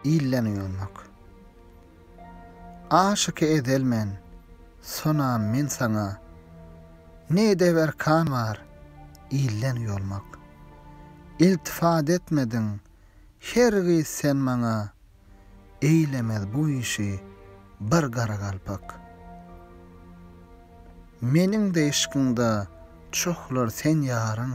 ilden uýalmak. Aşyky ezel men, sonam men saňa, ne edep erkan bar, ilden uýalmak. Iltifat etmediň, hergiz sen maňa, eýlemez bu işi bir garagalpak. Meniň-de yşkyňda çohlar sen ýaryň,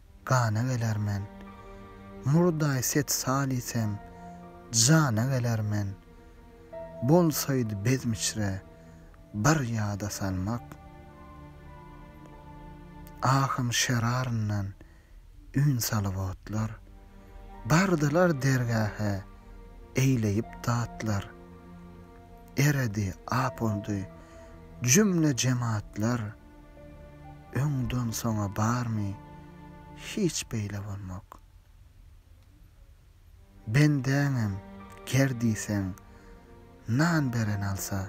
Gana geler men. Murdaý set salysem, Jana geler men. Bolsaýdy bezm içre, Bir ýada salmak. Ahym şeraryndan, Ün salyp otlar. Bardylar dergähe, Eýleýip datlar. Eredi, ap oldy, Jümle jematlar. Öňden soňa barmy hiç beýle bolmak. Bendäňem ger diýseň nan beren alsa,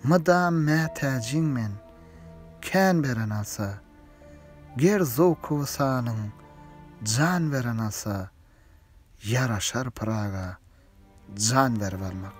mydam mätäjiň men kän beren alsa, ger zowkuby sanyň jan beren alsa, ýaraşar pyraga jan berip almak.